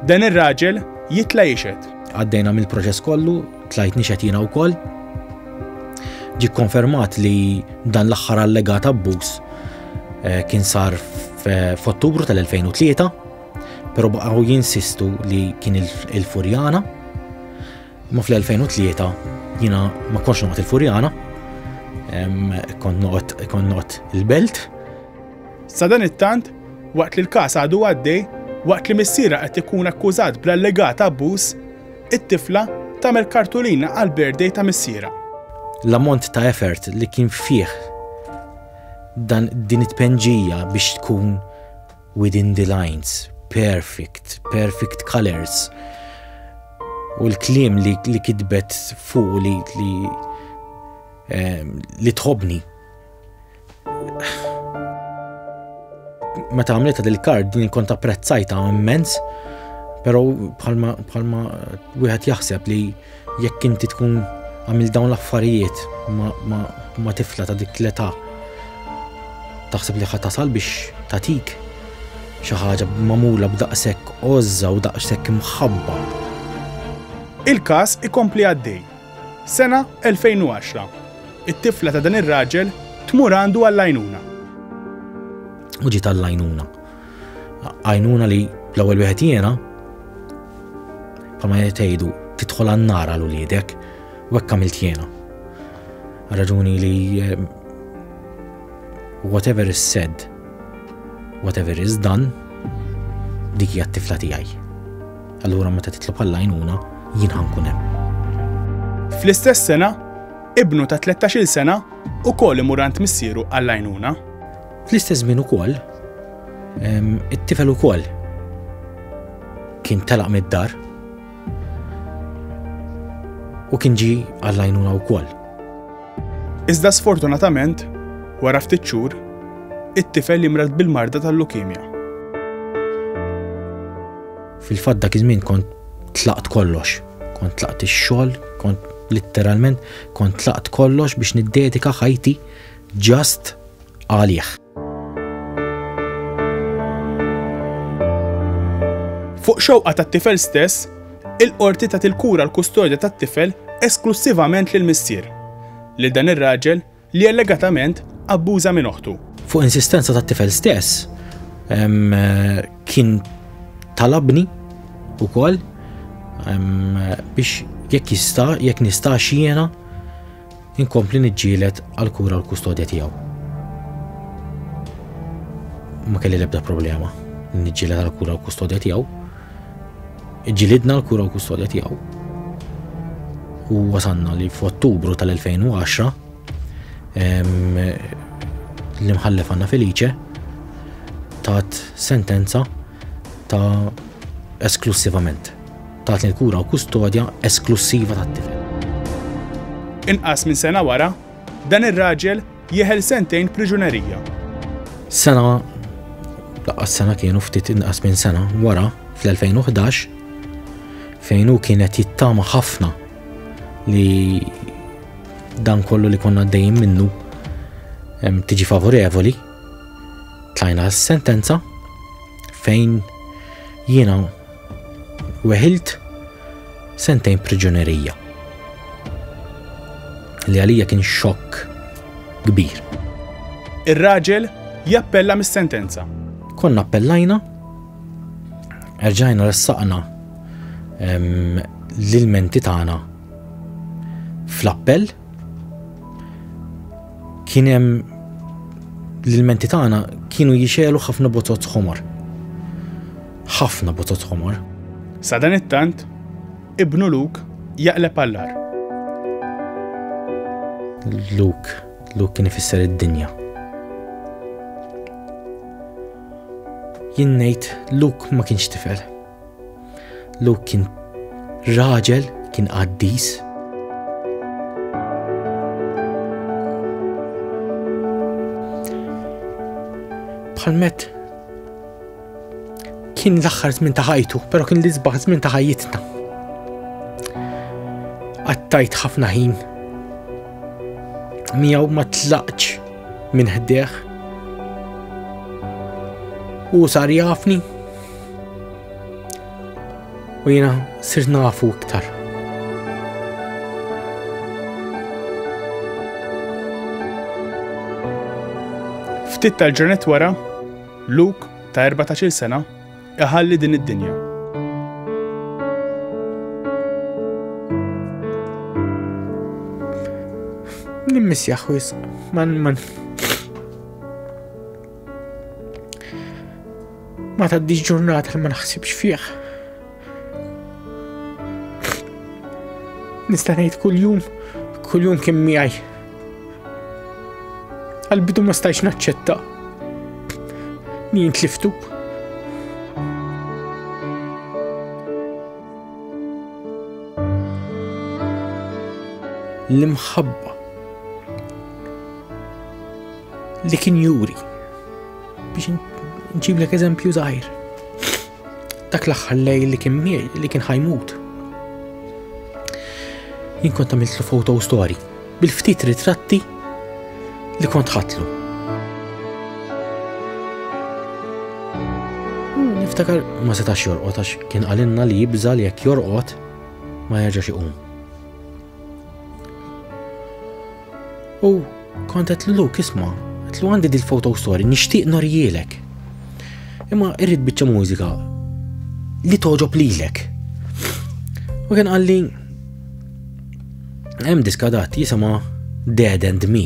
Dan ir-raġel jitla' jixhed. Għaddejna mill-proċess kollu, tlajt nixhed jiena wkoll. Ġie kkonfermat li dan l-aħħar allegat abbuż eh, kien sar f'Ottubru tal-2003, però baqgħu jinsistu li kien il-Furjana. Ma fl-2003 jiena ma konx noqgħod il-Furjana, kont noqgħod il-Belt. Sadanittant, waqt li l-każ għadu għaddej, waqt li missierha qed ikun akkużat bl-allegat abbuż, it-tifla tagħmel kartulina għall-birthday ta' missierha. L-ammont ta' effort li kien fih dan din it-tpenġija biex tkun within the lines, perfect, perfect colors, u l-klim li, li kitbet fuq li li, eh, li tħobni. Meta għamlita dil-kard din kont apprezzajta immens, però bħalma bħalma wieħed jaħseb li jekk inti tkun għamil dawn l-affarijiet ma tifla ta' dik l-età taħseb li ħat tasal biex tatik xi ħaġa magħmula b'daqshekk għożża u daqshekk imħabba. Il-każ ikompli għaddej Sena 2010. It-tifla ta' dan ir-raġel tmur għandu għall-għajnuna. U ġiet għall-għajnuna. Għajnuna li l-ewwel wieħed jiena pa ma jtejdu tidħol għan-nar għal uliedek u hekk għamilt jiena. Raġuni li eh, Whatever is said, whatever is done, dik hija t-tifla tiegħi. Allura meta titlob għall-għajnuna, jien ħankun hemm. Fl-istess sena, ibnu ta' 13-il sena u koll imurant missieru għall-għajnuna. Fl-istess żmien ukoll, it-tifel ukoll kien telaq mid-dar u kien ġi għall-għajnuna wkoll. Iżda sfortunatament, wara ftit xhur, it-tifel jimrad bil-marda tal-lukemja. Fil-fatt dak iż-żmien kont tlaqt kollox, kont tlaqt ix-xogħol, kont litteralment kont tlaqt kollox biex niddedika ħajti ġast għalih. Fuq xewqa tat-tifel stess, il-qorti tat il-kura l-kustodja tat-tifel esklussivament lil missier, lil dan ir-raġel li allegatament abbuża minn oħtu. Fuq insistenza tat-tifel stess, kien talabni wkoll biex jekk jista' jekk nista' xiena Inkompli niġġieled għall-kura u l-kustodja tiegħu. Ma kelli l-ebda problema niġġieled għall-kura u l-kustodja tiegħu. Ġilidna l-kura u l-kustodja tiegħu. U wasanna li f'Ottubru tal-2010 l-imħallef għanna Felice tat sentenza ta' esklusivament. Tagħti l-kura u kustodja esklussiva tat-tifel. Inqas minn sena wara, dan ir-raġel jeħel sentejn priġunerija. Sena, laqqas sena kienu ftit inqas minn sena wara fl-2011 fejn hu kien qed jittama ħafna li dan kollu li konna dejjem minnu tiġi favorevoli tlajna s-sentenza fejn jiena Weħilt sentejn priġunerija li għalija kien xokk kbir. Ir-raġel jappella mis-sentenza. Konna appellajna, erġajna ressaqna l-ilmenti tagħna fl-appell kien hemm l-ilmenti tagħna kienu jixelu ħafna botot ħomor. Ħafna botot ħomor. Sadanittant, ibnu Luke jaqleb għall-agħar. Luke, Luke kien ifisser id-dinja. Jien ngħid Luke ma kienx tifel. Luke kien raġel, kien qaddis, bħal met Kien l-aħħar żmien ta' ħajtu, però kien l-isbaħ żmien ta' ħajjitna. Għattajt ħafna ħin. Miegħu ma tlaqx minn ħdeħ. U sar jafni. U jiena sirt nafu iktar. Ftit tal-ġranet wara, Luke, ta' erbatax-il sena, iħalli din id-dinja. Nimmissjah wisq, man man. Ma tgħaddix ġurnata li ma naħsibx fih. Nista' ngħid kuljum, kuljum kien miegħi. Qalbidu ma stajx naċċetta. Min tliftu. l-imħabba li kien juri biex nġiblek eżempju zaħir. dak l-aħħar lejl li kien li kien ħajmut. Jien kont għamiltlu foto story bil-ftit ritratti li kont ħatlu. Hmm, niftakar ma setax jorqot għax kien għalinna li jibża li jekk jorqot ma jerġax iqum. U kont qed lulu kisma, qed lu għandi dil-foto story nixtieq norjielek. Imma irrid biċċa mużika li toġob lilek. U kien qalli hemm diska dat jisimha Dead and Me.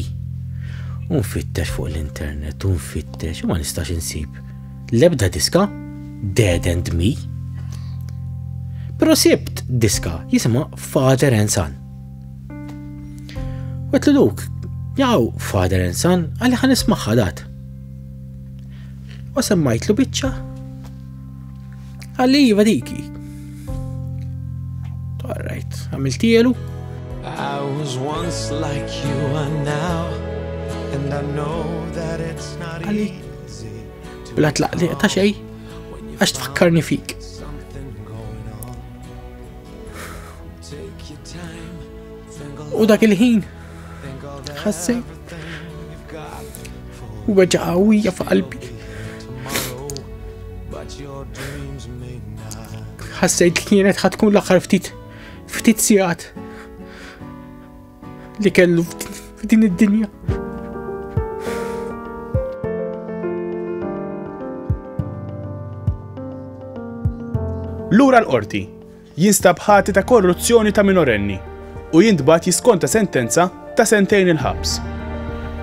Unfittex fuq l-internet, unfittex, ma nistax insib. Lebda diska Dead and Me. Pero sibt diska jisima Father and Son. Għet li luk, jaw father and son, għalli ħan ismaħħa dat. U semmajt lu bicċa, għalli jiva diki. Alright, għamiltielu. I was once like you are now, and I know that it's not easy. Bla tlaq li ta' xej, għax tfakkarni fik. U dak il-ħin ħassi u weġa qawwija f'qalbi. Ħassejt li kienet ħatkun l-aħħar ftit ftit sigħat li kellu f'din id-dinja. Lura l-qorti, jinstab ħati ta' korruzzjoni ta' minorenni u jintbagħat jiskonta sentenza ta' sentejn il-ħabs.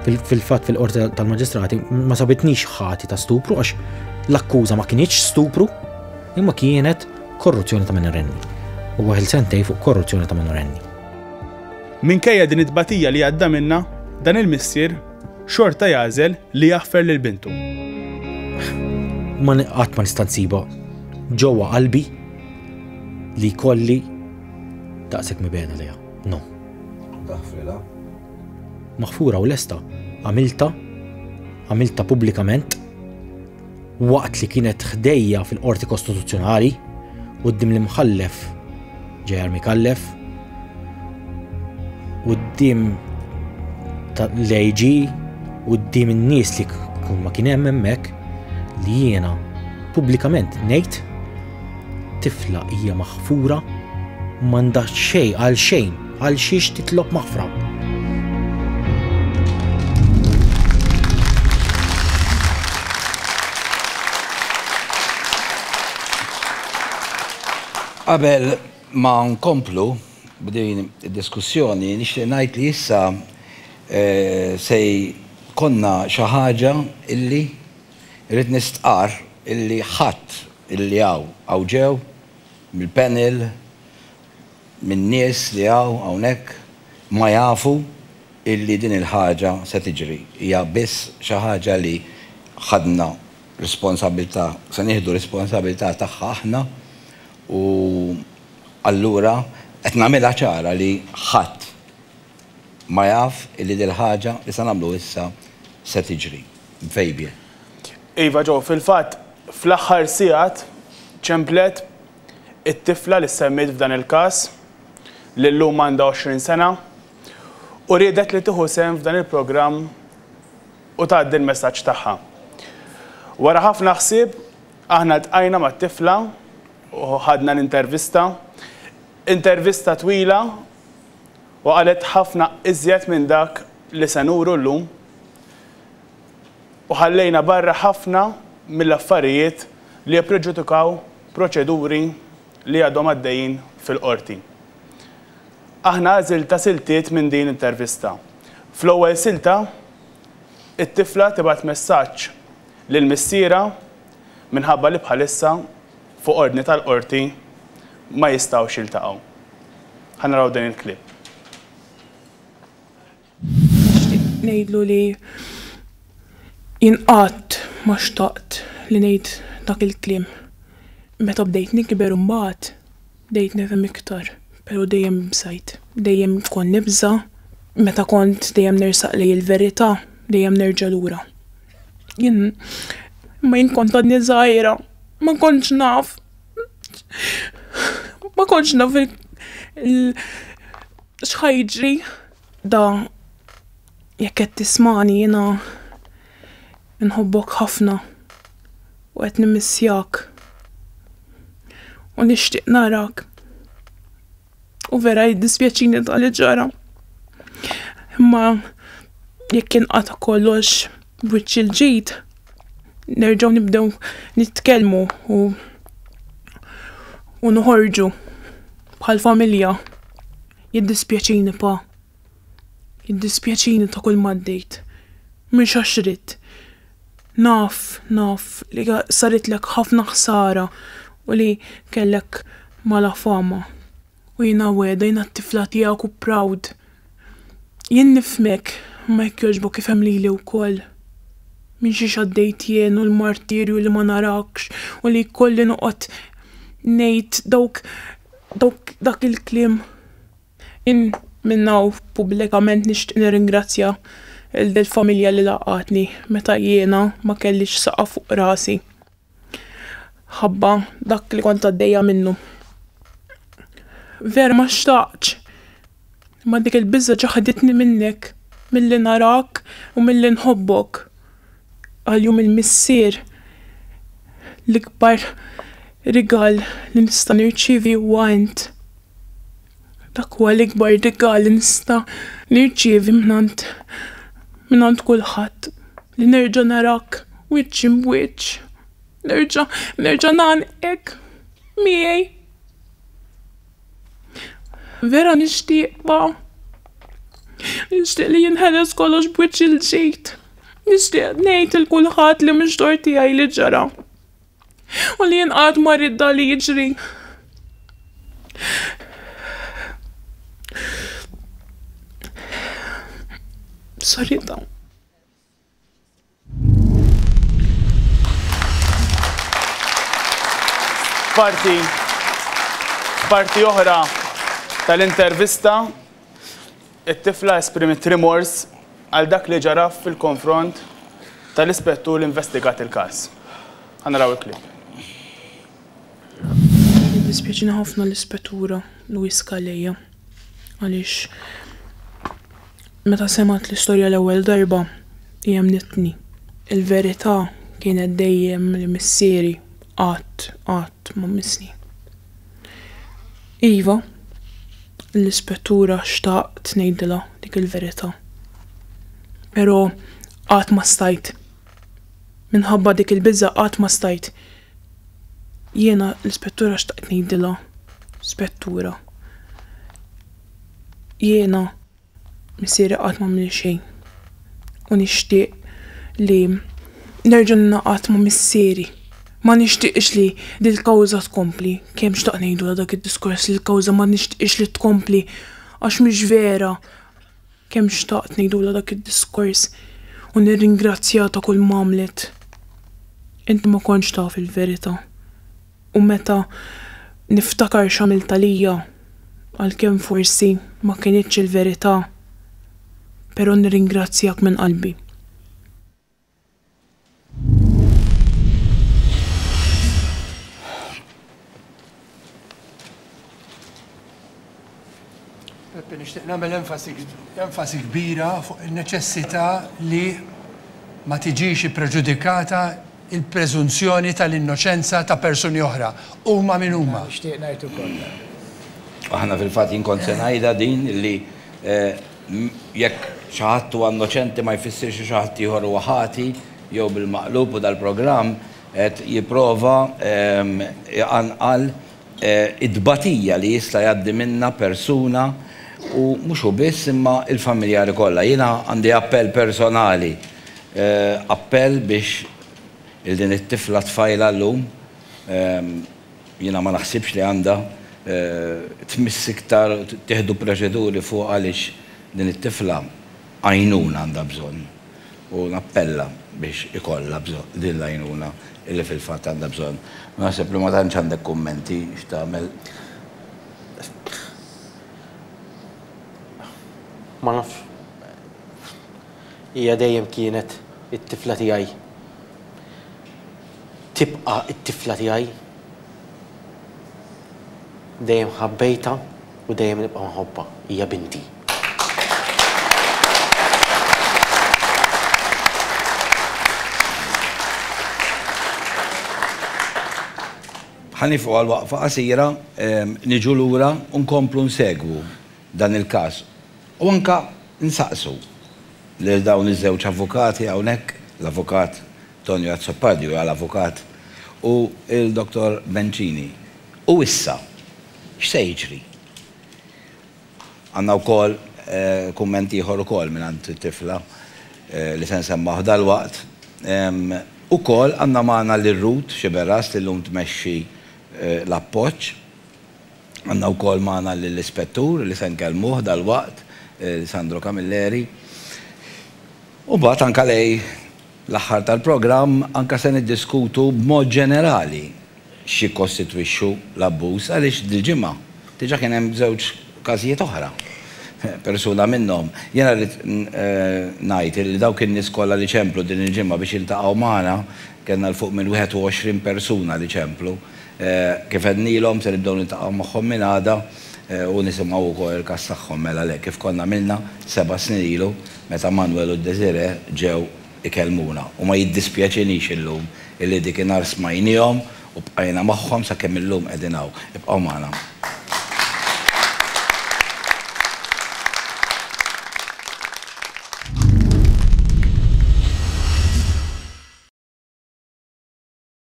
Fil-fatt fil-Qorti tal-Maġistrati ma sabitnix ħati ta' stupru għax l-akkuża ma kinitx stupru imma kienet korruzzjoni ta' minorenni u waħil sentej fuq korruzzjoni ta' minorenni. Minkejja din it-tbatija li għadda minnha, dan il-missier xorta jagħżel li jaħfer lil bintu. Ma qatt ma nista' nsibha ġewwa qalbi li jkolli daqshekk mibena lejha. No. Taħfrilha. Maħfura u lesta għamilta għamilta pubblikament waqt li kienet ħdejja fil-qorti kostituzzjonali u d-dim l-imħallef ġejar mikallef Quddiem l-AG, quddiem in-nies li kull ma kien hemm hemmhekk li jiena pubblikament ngħid tifla hija maħfura m'għandha xejn għal xejn għal xiex titlob maħfra. Qabel Ma nkomplu b'din id-diskussjoni, nixtieq ngħid li issa se jkollna xi ħaġa illi rrid nistqarr illi ħadd illi hawn, hawn ġew mill-panel, minn nies li hawn hawnhekk, ma jafu illi din il-ħaġa se tiġri. Hija biss xi ħaġa li ħadna responsabilità, se nieħdu responsabilità tagħha aħna. U allura qed nagħmilha ċara li ħadd ma jaf li dil-ħaġa li se nagħmlu issa se tiġri. B'vejbie. Iva Joe, fil-fatt fl-aħħar sigħat ċemplet it-tifla li ssemmiet f'dan il-każ, li llum għandha 20 sena, u riedet li tieħu sehem f'dan il-programm u tgħaddi l-messaġġ tagħha. Wara ħafna ħsieb Aħna ltqajna mat-tifla u ħadna l-intervista. Intervista twila u qalet ħafna iżjed minn dak li se nuru llum. U ħallejna barra ħafna mill-affarijiet li jippreġudikaw proċeduri li għadhom għaddejjin fil-Qorti. Aħna għażilta siltiet minn din l-intervista. Fl-ewwel silta It-tifla tibgħat messaġġ lil missierha minħabba li bħalissa fuq ordni tal-Qorti ma jistgħux jiltaqgħu. Ħa naraw dan il-clip. Nixtieq ngħidlu li jien qatt ma xtaqt li ngħid dak il-kliem. Meta bdejt nikber imbagħad. Bdejt nifhem iktar, pero' dejjem b'sajt. Dejjem kont nibża', meta kont dejjem nersaq lejn il-verita', dejjem nerġa' lura. Jien, imma jien kont għadni żgħira, ma kontx naf, ma kontx naf il, il, x'ħa jiġri. Da. Jekk qed tismagħni jiena nħobbok ħafna u qed nimmissjak u nixtieq narak u vera jiddispjaċini ta' li ġara. Imma jekk jinqata' kollox b'wiċċ il-ġid, nerġgħu nibdew nitkellmu u u noħorġu bħal familja. Jiddispjaċini pa. Jiddispjaċini ta' kull ma għaddejt. Mhux għax ridt. Naf, naf li saritlek ħafna ħsara u li kellek mala fama. U jiena wegħda, jiena t-tifla tiegħek u proud. Jien nifhmek, imma jekk jogħġbok ifhem lili wkoll. Minn xiex għaddejt jien u l-martirju li ma narakx u li jkolli noqgħod ngħid dawk, dawk, dak il-kliem. Jien minn hawn pubblikament nixtieq nirringrazzja lil dil-familja li laqgħatni meta jiena ma kellix saqaf fuq rasi ħabba dak li kont għaddejja minnu. Vera ma xtaqtx, imma dik il-biża' ġaħditni minnek, milli narak u milli nħobbok. Għalihom il-missier, l-ikbar rigal li nista' nirċievi huwa int. Dak huwa l-ikbar rigal li nista' nirċievi mingħand mingħand kulħadd, li nerġa' narak wiċċ imb'wiċċ, nerġa' nerġa' ngħannqek miegħi. Vera nixtieqha. Nixtieq li jinħeles kollox b'wiċċ il-ġid. Nixtieq ngħid il kulħadd li mhux dor tiegħi li ġara. U li jien qatt ma rrid dan li jiġri. Sorry ta'. Parti, parti oħra tal-intervista, it-tifla esprimit rimors għal dak li ġaraf fil-konfront tal-ispettur li investigat il-kas. Għanraw il-klip. Dispieċina ħafna l-ispettura Luis Kaleja. għaliex meta semgħet l-istorja l-ewwel darba hi emmnitni. Il-verità kienet dejjem li missieri qatt, qatt ma missni. Iva, l-ispettura xtaqt ngħidilha dik il-verità. Però qatt ma stajt. Minħabba dik il-biża' qatt ma stajt. Jiena l-ispettura xtaqt ngħidilha, Spettura, jiena missieri qatt m'għamilli xejn u nixtieq li nerġa' ningħaqad ma' missieri. Ma nixtieqx li dil-kawża tkompli, kemm xtaqt ngħidulha dak id-diskors li l-kawża ma nixtieqx li tkompli għax mhix vera. Kemm xtaqt ngħidulha dak id-diskors u nirringrazzjah ta' kull m'għamlet. Inti ma kontx taf il-verità. U meta niftakar x'għamilt għalija, għalkemm forsi ma kinitx il-verità, però nirringrazzjak minn qalbi. Peppi, nixtieq nagħmel enfasi kbira fuq in-neċessità li ma tiġix ippreġudikata il-preżunzjoni tal-innoċenza ta' persuni oħra, huma min huma. Nixtieq ngħid ukoll. Aħna fil-fatt jien kont se ngħidha din li Jekk xi ħadd huwa innoċenti ma jfissirx li xi ħadd ieħor huwa ħati jew bil-maqlub u dal-programm qed jipprova jqanqal it-tbatija li jista' jgħaddi minnha persuna u mhux hu biss imma l-familjari kollha. Jiena għandi appell personali, appell biex lil din it-tifla tfajla llum, Jiena ma naħsibx li għandha tmiss iktar u tittieħdu proċeduri fuqha għaliex din it-tifla għajnuna għandha bżonn u nappella biex ikollha din l-għajnuna li fil-fatt għandha bżonn. Naħseb li ma tantx għandek kummenti x'tagħmel. Ma nafx. Hija dejjem kienet it-tifla tiegħi. tibqa' t-tifla tiegħi. Dejjem ħabbejtha u dejjem nibqa' nħobbha. Hija binti. Ħa nieqfu għal waqfa qasira, niġu lura u nkomplu nsegwu dan il-każ u anke nsaqsu lil dawn iż-żewġ avukati hawnhekk, l-Avukat, Tonio Azzopardi huja l-avukat u l-Dottor Bencini. U issa, x'se jiġri? Għandna wkoll kumment ieħor ukoll mingħand tifla li se nsemmaw dalwaqt. Ukoll għandna magħna lil Ruth Sciberras li llum tmexxi l-appoġġ. Għandna wkoll magħna lill-Ispettur li se nkellmuh dalwaqt, Sandro Camilleri. U mbagħad anke lei l-aħħar tal-programm anke se niddiskutu b'mod ġenerali x'jikkostitwixxu l-abbuż għaliex dil-ġimgħa diġà kien hemm żewġ każijiet oħra. Persuna minnhom. Jiena rrid ngħid illi dawk in-nies kollha li ċemplu din il-ġimgħa biex jiltaqgħu magħna, kellna 'l fuq minn 21 persuna li ċemplu, kif għednilhom se nibdew niltaqgħu magħhom minn għada u nisimgħu wkoll il-każ tagħhom mela le kif konna għamilna seba' snin ilu. Meta Manuel u Desiree ġew ikellmuna, u ma jiddispjaċinix illum illi dik inhar smajniehom u bqajna magħhom sakemm illum qegħdin hawn. Ibqgħu magħna.